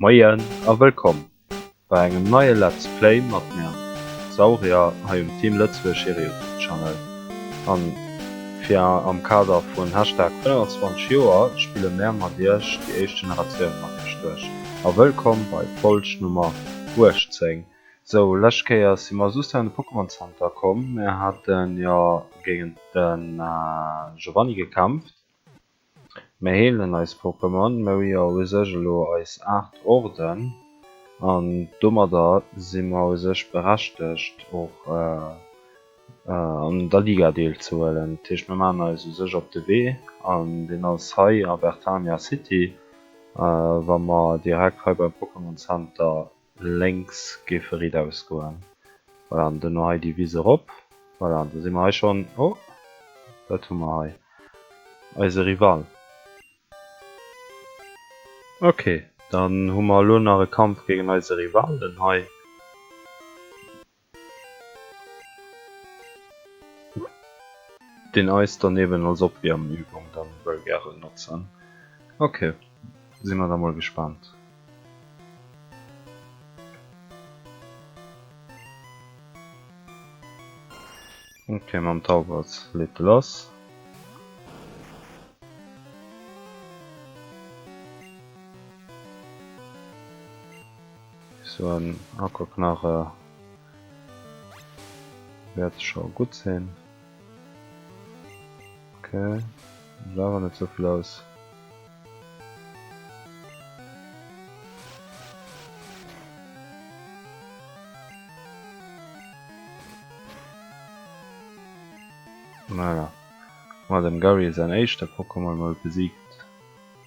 Moien a wëllkomm bei engem neie Let's Play mat mir Saurier hei um Team Lëtzebuerg hire Youtube Channel an fir am Kader vun Hashtag 25 Joer spille mär mat iech déi éischt Generatioun mat iech duerch a wëllkomm bei Folg Nummer 18. Sou, lescht Kéier si mer just hei an de Pokémon Center komm. Mir haten jo géigend de Giovanni gekämpft. Mir heelen eis Pokémon. Mir hu jo u sech elo eis 8 Orden an domadder si mer u sech berechtegt och an der Liga deelzehuelen. Dat heescht, mir maachen eis u sech op de Wee an deen ass hei a Bertania City, wa mer direkt hei beim Pokémon Center Lénks géife riit ausgoen. Voilà, an duerno hei déi Wiss erop. Voilà, an da si mer hei schonn. Oh, wat hu mer hei? Eise Rival. Ok, dann hu mer elo nach e Kampf géinge eise Rivalen hei. Deen eis dann eben als Opwiermübung dann wëll gären notzen. Ok, sinn mer da mol gespannt. Ok, mam Tauwelz leet e lass. Sou en Aquaknarre wäert scho gutt sinn. Ok, geet awer net sou vill aus. Voilà, ma dem Garry säin éischte Pokémon mol besiegt.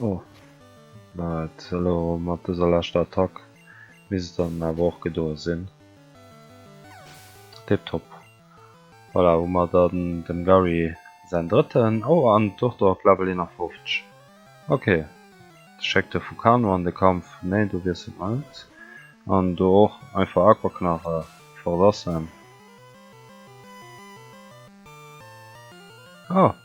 Oh, ma et elo mat dëser leschter Attack misst et dann awer och gedoe sinn. Tiptop. Voilà, hu mer dann dem Garry säin drëtten. Oh, an d'Durtor op Level 51. Ok, da schéckt e Fukano an de Kampf. Nee, do wiesselt mer net. An do och einfach Aquaknarre verlassen. Oh!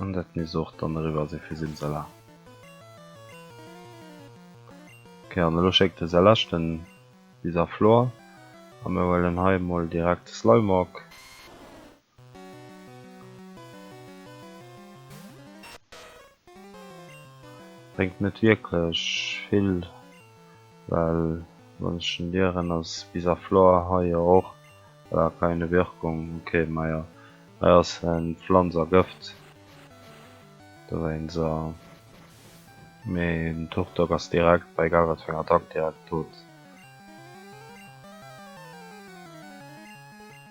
An dat misst och dann eriwwer si fir Simsala. Ok, an elo schéckt e säi leschten bis a Flor. A mir huelen hei emol direkt de Slimeawk. Bréngt net wierklech vill, well wann ech en lieren ass bis a Flor, hei jo och, voilà, keine Wirkung, ok, majo, hei ass e Pflanz a Gëft dowéinst, mee den Turtok ass direkt bei egal wat fir eng Attack direkt dout.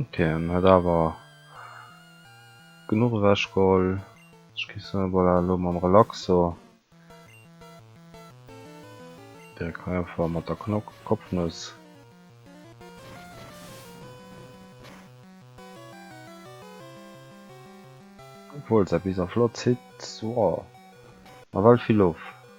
Okay, en huet awer genuch ewech geholl. Ech gi se voilà elo mam Relaxo direkt hei einfach mat der Knock Kopfnuss. Obwuel säi Bis a flott zitt, woah, nawell vill of.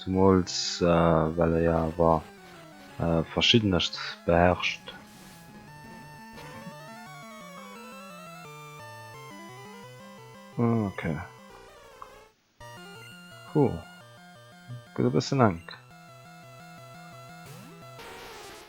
Zumools well e jo awer verschiddenescht beherrscht. Ok. Puh. Gëtt e bëssen enk.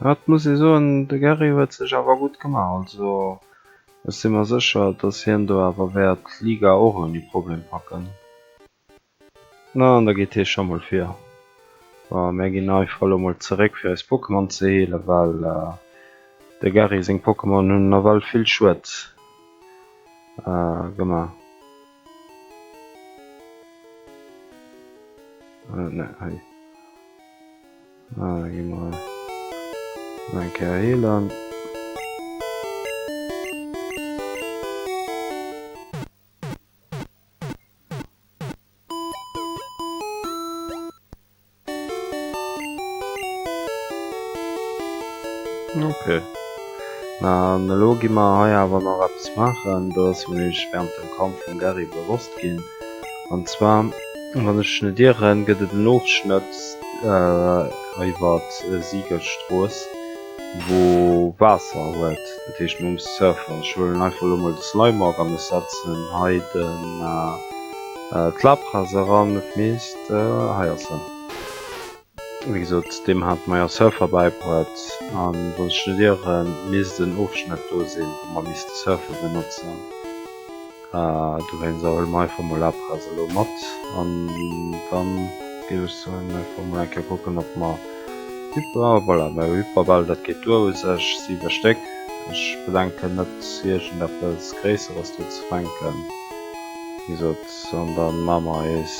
Hatt muss ee soen, de Garry huet sech awer gutt gemaach. Also ech si mer sécher, datt hien do awer wäert d'Liga och ouni Problem packen. Na, an da geet hie scho mol vir. Bon, mär ginn einfach elo mol zeréck fir eis Pokémon ze heelen, well de Garry seng Pokémon hunn nawell vill Schued gemaach. Ah, geh mal. Mein Kerl Helan. Okay. Na, lo gi mer hei awer nach etwas machen, dass mir während dem Kampf vum Garry bewusst gehen. An zwar wann ech net ieren gëtt et en Ofschnëtt iwwer d'Siegelstrooss wou Waasser huet, dat heescht mer musse surfen. Ech huelen einfach elo mol de Slimeock an ech setzen hei d'Labras eran, dat heescht hei ass en. Wéi gesot, deem hat Meyer Surfer bäibruet, a wou sech net ieren, misst en Ofschnëtt do sinn, wou mer misste Surfer benotzen. Dowéinster huele mer einfach mol Apres elo mat, an da géif ech soen, einfach mol eng Kéier kucken, ob mer Hyper, voilà, mä Hyperbäll, dat geet duer u sech, 7 Stéck. Ech bedenken net, iergendeppes Gréisseres do ze fänken, wéi gesot, an da maache mer eis.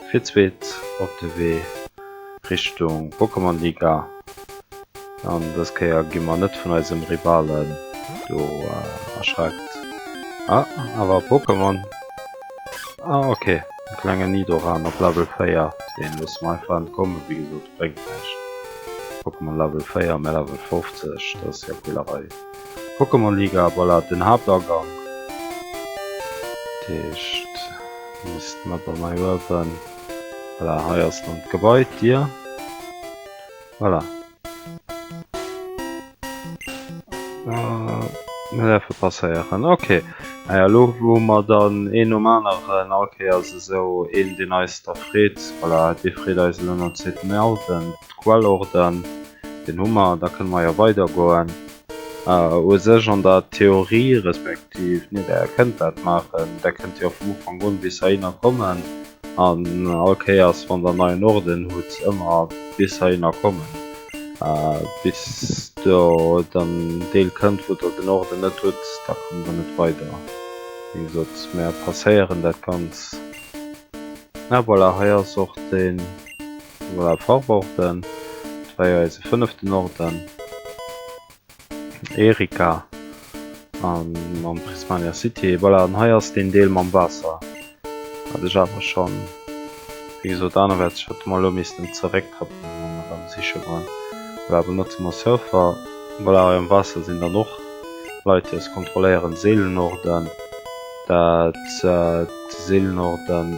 Fir d'zweet op de Wee Richtung Pokémon-Liga an dës Kéier gi mer net vun eisem Rivalen do erschreckt. Ah, awer e Pokémon. Ah ok, e klengen Nidoran op Level 4, deen loosse mer einfach entkommen, wéi gesot, bréngt näischt. Pokémon Level 4, mä Level 50, dat ass jo Quälerei. Pokémon Liga a Ballade den Haaptagang. Dat heescht misst mer da mei uewen, voilà hei ass dann d'Gebai, d'Dier, voilà. Mir däerfe passéieren, ok. Ah jo elo wou mer dann een nom aneren, all Kéiers esou een deen eis da freet, voilà dee freet eis elo nom zweeten Owend. Quellorden, deen hu mer, da kënne mer jo weidergoen. U sech an der Theorie, respektiv nee, Der kënnt dat maachen, Der kënnt jo vum Ufank un bis heihinner kommen an all Kéiers, wann Der neien Orden hutt, ëmmer bis heihinner kommen, bis Der an en Deel kënnt, wou Der den Orden net hutt. Da kommt Der net weider. Wéi gesot, mer passéieren dat Ganzt. Ah voilà, hei ass och den. Voilà, Farborden. Dat war jo eise fënneften Orden. Erika. An mam Prismania City. Voilà, an hei ass deen Deel mam Waasser. Wat ech awer schonn, wéi gesot, anerwäerts hätte mer elo missten zerécktrappen, wa mer erëm siche wollen. Voilà, benotze mer Surfer. Voilà, hei am Waasser sinn dann och Leit, déi eis kontrolléieren. Seelenorden. Dat, d'Seelenorden.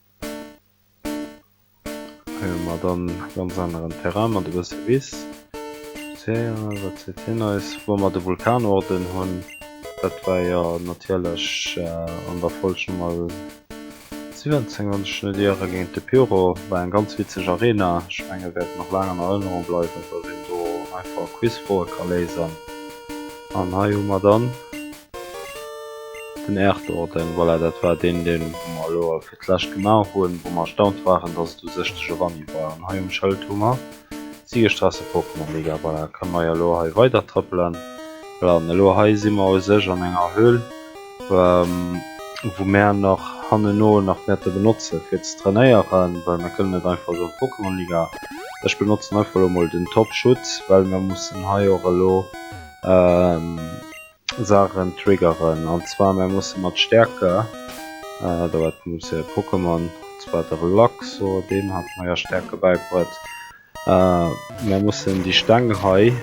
Hei hu mer dann e ganz aneren Terrain mat e bësse Wiss. Spazéieren, wat seet hien eis? Wou mer de Vulkanorden hunn, dat war jo natierlech an der Folg Nummer 17, wann ech net iere, géint de Pyro. War eng ganz witzeg Arena. Ech menge wäert nach laang an Erënnerung bleiwen, datt een do einfach Quizfroe ka léisen. An hei hu mer dann. Den Erdorden, voilà, dat war deen, dee mer elo fir d'lescht gemaach hunn, wou mer erstaunt waren, dass et u sech de Giovanni war. An hei um Schëld hu mer d'Siegestraße Pokémon-Liga. Voilà, kënne mer jo elo hei weidertrëppelen. Voilà, an elo hei si mer u sech an enger Höhl, wou mär nach hanneno nach wäerte benotze fir ze trainéieren, well mir kënnen net einfach esou Pokémon-Liga. Ech benotzen einfach elo mol den Top-Schutz, well mir mussen hei och elo. Saachen triggeren an zwar mär musse mat Stärke dat muss e Pokémon zwar de Relaxo deem hat meier Stärke bäibrëtt mär mussen déi Steng hei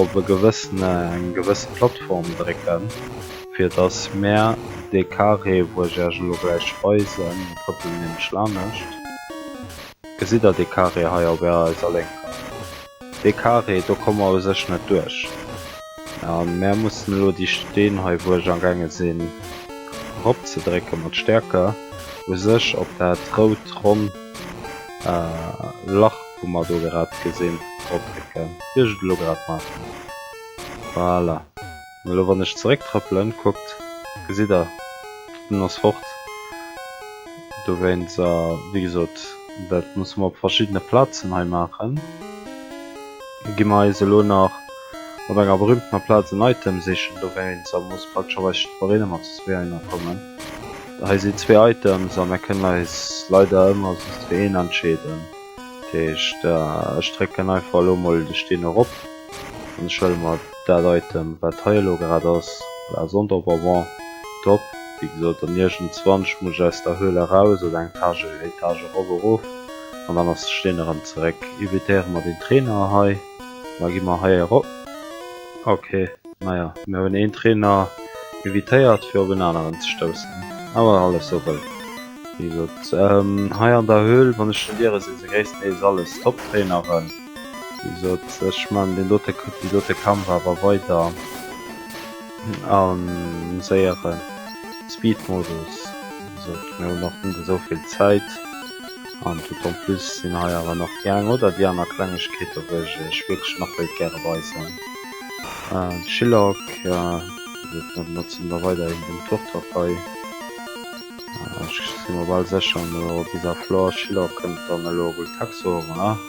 op e gewëssene eng gewësse Plattform drécken fir datt mär dee Carré wou ech Iech elo gläich weisen, mir trëppelen nämlech lanescht, gesitt Der dee Carré hei op Ärer eiser Lénker? Dee Carré do komme mer u sech net duerch. A mär mussen elo déi Steen hei, wou ech amgaange sinn eropzedrécke mat Stäerke, u sech op dat rout ronn Lach, wou mer do grad gesinn, drodrécken, wéi ech et elo grad maachen. Voilà. An elo wann ech zeréck trëppelen, kuckt, gesitt der, en ass fort. Dowéinst, a wéi gesot, dat musse mer op verschiddene Plazen hei maachen, gi mer eis elo nach op enger berühmtener Plaz en Item sichen. Dowéinst, a muss praktecherweis just nach een ëmmer zu zwee heihinner kommen. Hei sinn zwee Items a mer kënnen eis leider ëmmer just fir een entscheeden. Dat heescht, ech drécken einfach elo mol de Steen erop an ech huele mer. Daat Item waat hei elo grad ass war sonnt op avant top, wéi gesoot an iergendzwanch muss ech aus der Höhle eraus oder eng Tage Etage erof erof an dann ass steen erem zeréck. Evitéieren mer den Trainer hei mer gin mer hei erop ok naja mir hun een Trainer evitéiert fir op een aneren ze stoussen awer alles sou wëll wéi gesoot hei an der Höhle wann ech den Dieren sin se gréisstendeels alles top Traineren. Ech man den dote die dote Kampf awer weider am séiere Speedmodus mir hun nach net esouvill Zäit an tout en plus sinn hei awer nach déi eng oder déi aner Klengegkeete wou ech iech wierklech nach wéilt gäre weisen. De Shillock mat sinn mer weiderhin beim Turtok hei. Ech si mer bal sécher bis a Flore Shillock kënnt dann elo Gultaxo, voilà.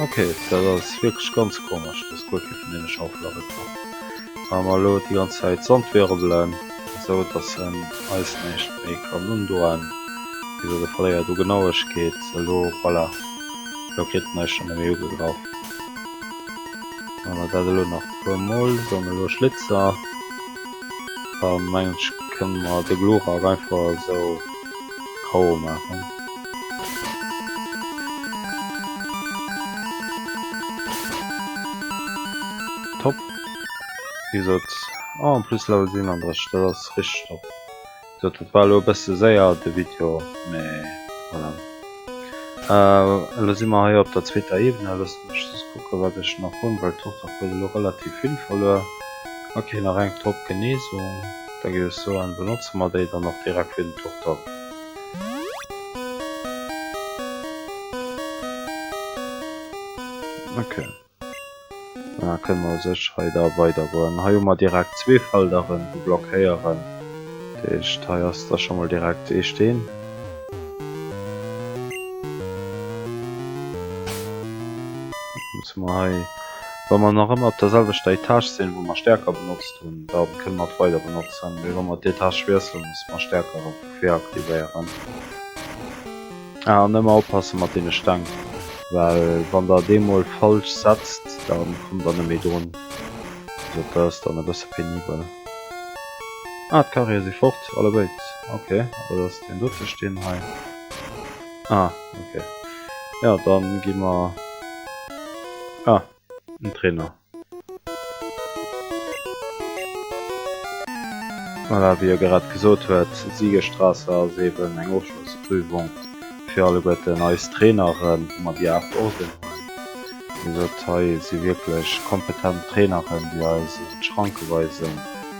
Ok, dat ass wierklech ganz komesch, dass guer kee vun deene Schaufele erëmkoum. Wa mer elo déi ganz Zäit Sand wirbelen, esou dass en eis näischt méi kann undoen, wéi se verléiert u Genauegkeet. Elo, voilà, elo kritt en eis schonn net méi ugegraff. Wa mer dat elo nach e puer Mol, dann elo Schlitzer, da mengen ech, kënne mer de Glurak einfach esou. Trauer maachen. Top! Wéi gesot, oh en plus Level 37, dat ass richteg top. Wéi gesot, dat war elo e bësse séier de Video, mee voilà. Elo si mer hei op der zweeter Ebene, loosst mech just kucken, wat ech nach hunn, well d'Tochter huet elo relativ vill verluer. Ok, nach eng top Genesung. Da ginn ech soen, benotze mer déi dann och direkt fir den Turtok. Ok. An da kënne mer u sech hei da weidergoen. Hei hu mer direkt zwee Felderen, déi blockéieren. Dat heescht, hei ass da scho mol direkt ee Steen. Dann notze mer hei. Wa mer nach ëmmer op der selwechter Etage sinn, wou mer Stäerker benotzt hunn, da kënne mer et weider benotzen, mee wa mer d'Etage wiesselen, musse mer Stäerker erëm vu vir aktivéieren. Ah, an ëmmer oppasse mat deene Steng, well wann Der et eemol falsch setzt, da kommt Der net méi drun. Also dat ass dann e bësse penibel. Ah, d'Carriere si fort, allebéid. Ok, da lass deen do ze stinn hei. Ah, okay. Ja, dann gehen wir... Ah, ein Trainer. Voilà, wie ihr gerade gesagt huet, Siegestrasse ass eben eng Ofschlussprüfung fir alleguer den eis Traineren, wo man die acht Orden hunn. Hei si wierklech kompetent Traineren, déi eis Schranke weisen.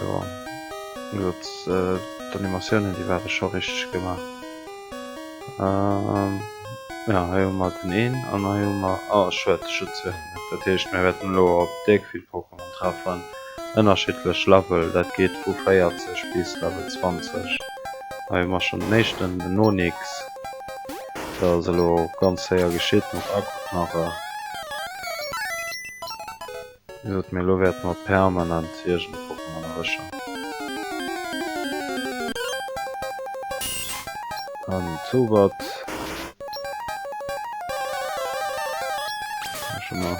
Jo, gesot d'Animatiounen déi ware scho richteg gemaach. Jo hei hu mer den een an hei hu mer, oh schued ech hunn zwee vermësst. Dat heescht mir wäerten elo op déck vill Pokémon treffen, ënnerschiddlech Level, dat geet vu 40 bis Level 20. Hei hu mer schonn den éischten, den Onix, dat ass elo ganz héier geschitt mat Aquaknarre. Gesot, mee elo wäerte mer permanent iergend Wochen an Erwëscher an Zowert maachen. Mä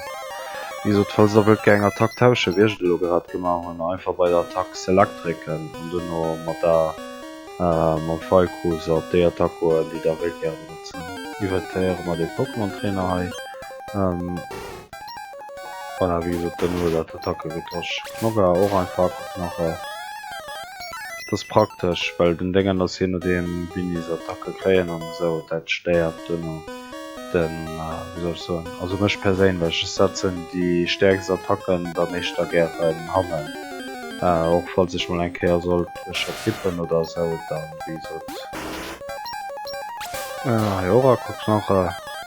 wéi gesot, falls Der wëllt gären Attack tauschen, wéi ech et elo grad gemaach hunn, einfach bei der Attack Select drécken an duerno mat der mam File-Cursor op déi Attack goen, déi Der wëllt gären benotzen. Invertéiere mer dee Pokémon-Trainer hei. Voilà, wéi gesot, dann huet dat Attacke getosch. Nogga och einfach guck nach e. Et ass praktesch, well den Deng an ass je nodeem wéini se Attacke kréien an esou, dat stéiert duerno den, wéi soll ech soen, also mech perséinlech. Ech setzen déi stäerkst Attacken da meeschter gären hannen, och falls ech mol eng Kéier sollt ech vertippen oder esou, dann, wéi gesot. Hei och a guck nach e.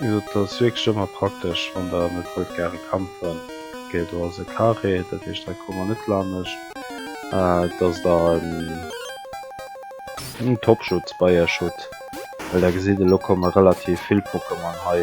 Et ass wierklech ëmmer praktesch wann der net wollt gare kampfen. Ok do ass e Carré, dat heescht hei komme mer net laannecht. Et ass da en Topschutz bei iech hutt, well der gesitt elo komme relativ vill Pokémon hei.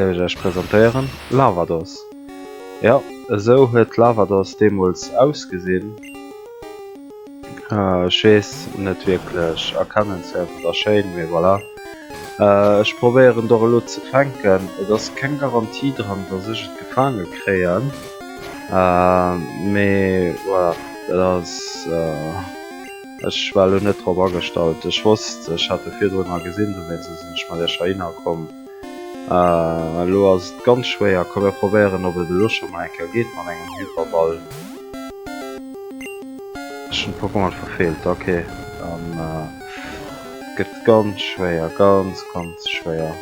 Géif ech Iech presentéieren, Lavados. Jo, esou huet Lavados deemools ausgesinn. Ech weess, net wierklech erkennenswäert oder schéin, mee voilà. Ech probéieren doch elo ze fänken. Et ass keng Garantie dran, dass ech et gefaange kréien, mee voilà, dat ass. Ech war elo net drop agestallt. Ech wosst, ech hat e virdrun al gesinn, dowéinst sinn ech mat iech heihinner komm. Elo ass et ganz schwéier. Komm mir probéieren ob et elo scho mol eng Kéier geet mat engem Hyperball. Ech hunn d'Pokémon verfeelt. Ok, dann gëtt et ganz schwéier. Ganz, ganz schwéier.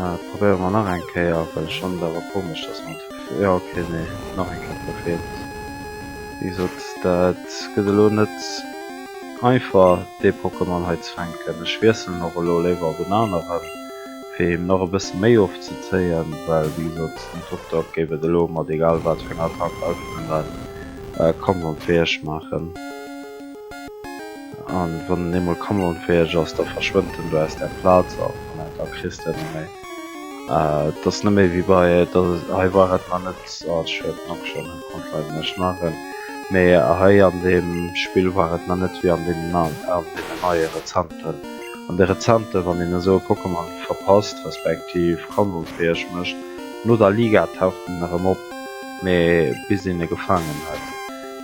Dat probéiere mer nach eng Kéier, well ech fannen et awer komesch, dass mer d'F, jo ok, nee, nach eng Kéier Prophet. Wéi gesot, dat gëtt elo net einfach, dee Pokémon hei ze fänken. Ech wiesselen och elo léiwer op en aneren, fir him nach e bësse méi ofzezéien, well, wéi gesot, den Tuktuk géif et elo mat egal wat fir enger Attack einfach net mal kampfunfäeg maachen. An wann en eemol kameraunfäheg ass, da verschwënnt en do aus der Plaz a voilà, da kriss de en net méi. Et ass net méi wéi bei, hei war et mar net, oh ech huelen d'Knopp schonn, ech konnt leider näischt maachen, mee hei an deem Spill war et mar net wéi an deenen an deenen neie rezenten. An de rezente, wann een esou e Pokémon verpasst, respektiv kameraunfäheg mécht, no der Liga taucht en erëm op, mee bis een e gefaangen huet,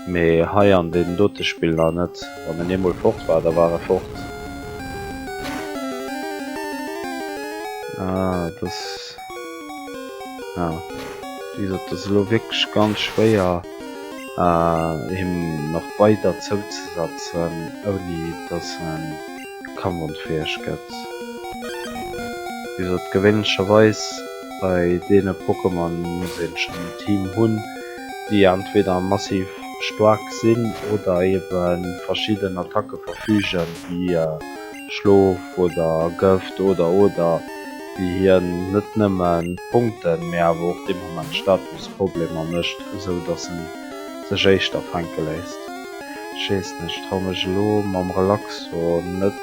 Mee hei an deenen dote Spiller net. Wann en eemol fort war, da war e fort. Ah, et ass. Ja. Wéi gesot, et ass elo wierklech ganz schwéier, him nach weider zouzesetzen, ouni dass e kampfunfäeg gëtt. Wéi gesot, gewéinlecherweis bei deene Pokémon muss ee schonn en Team hunn. déi entweder massiv staark sinn oder ebe verschidden Attacke verfügen, wéi Schlof oder Gëft, oder, oder, déi hien net nëmme Punkten, mee awer och dee Moment Statusproblemer mécht, esou datt e sech éischter fänke léisst. Ech weess net, ech traue mech elo mam Relaxo net.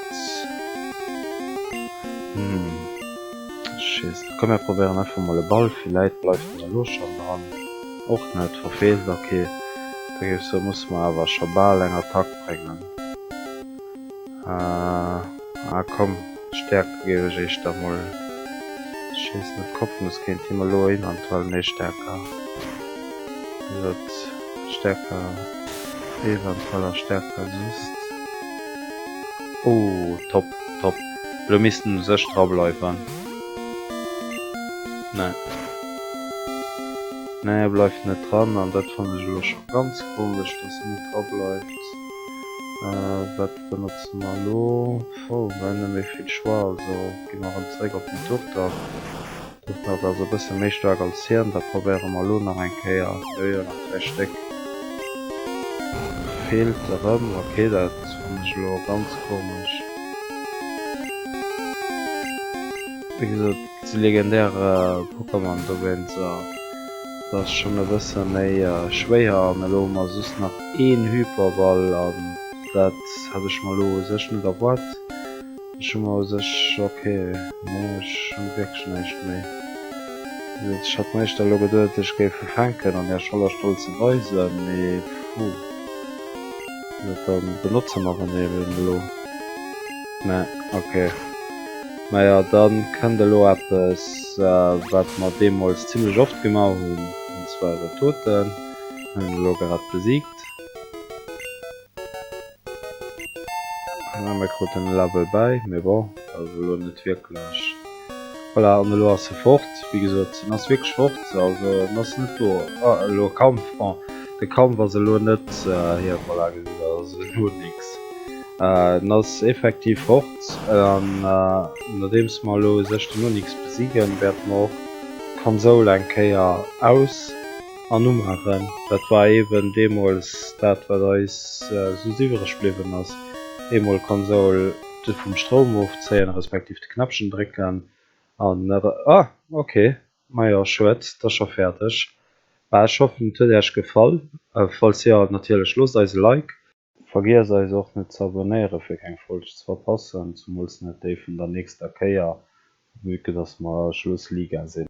Hm. Schéissel, komm mir probéieren einfach mol e Ball, villäit bleift en elo schonn dran, och net, verfeelt, ok, da géif ech soen musse mer awer scho bal eng Attack bréngen, ah komm, Stärke géif ech éischter mol schéissen, op Kopfnuss kéint him elo eventuell, nee Stärke, hie sot Stärke, eventuell ass Stärke just, oh top! Top. Elo missten sech dra bleiwen. Nee. Nee, e bleift net dran. An dat fannen ech elo scho ganz komesch, dass en net dra bleift. Wat benotze mer elo? Puh, mer hunn net méi vill Choix, also gi mer erëm zeréck op den Tourtag. Dëst haut ass e bësse méi staark als hien, dat probéiere mer elo nach eng Kéier. Jo jo, nach dräi Stéck feelt erëm. Ok, dat fannen ech elo ganz komesch. Wéi gesot, déi legendär Pokémon dowéinster, dat ass schonn e bësse méi schwéier. An elo hu mer just nach een Hyperball, an dat hat ech mer elo u sech net erwaart. Ech hu mer u sech ok, mee ech hu wierklech näischt méi. Ech hat mer éischter elo geduet, ech géif ufänken an Är Scholler Stoll ze weisen, mee puh. Mä da benotze mer en eben elo. Mä ok. Maja, da kënnt elo eppes, wat mer deemools zimlech oft gemaach hunn, an zwar iwwer Toten. Hunn en elo grad besiegt. An mir kruten e Label bäi, mee bon, also elo net wierklech. Voilà, an elo ass e fort. Wéi gesot, en ass wierklech fort, also en ass net do. Ah, elo Kampf, bon, de Kampf ass elo net hir, voilà, gesitt der, ass elo nix. En ass effektiv fort, an nodeems mer elo u sech den Onyx besiegen, wäerte mer och d'Konsoul eng Kéier aus. an umaachen. Dat war eben deemools dat wat eis soss iwwereg bliwwen ass, eemol Konsoul de vum Stroum ofzéien, respektiv de Knäppchen drécken an ah ok majo schued d'ass scho fäerdeg. Bah ech hoffen et huet äerch gefall, falls jo natierlech loosst eis e Like. Vergiesst eis och net ze abonnéieren fir keng Folg ze verpassen, zumools net déi vun der nächster Kéier, vu que dass mer Schluss Liga sinn.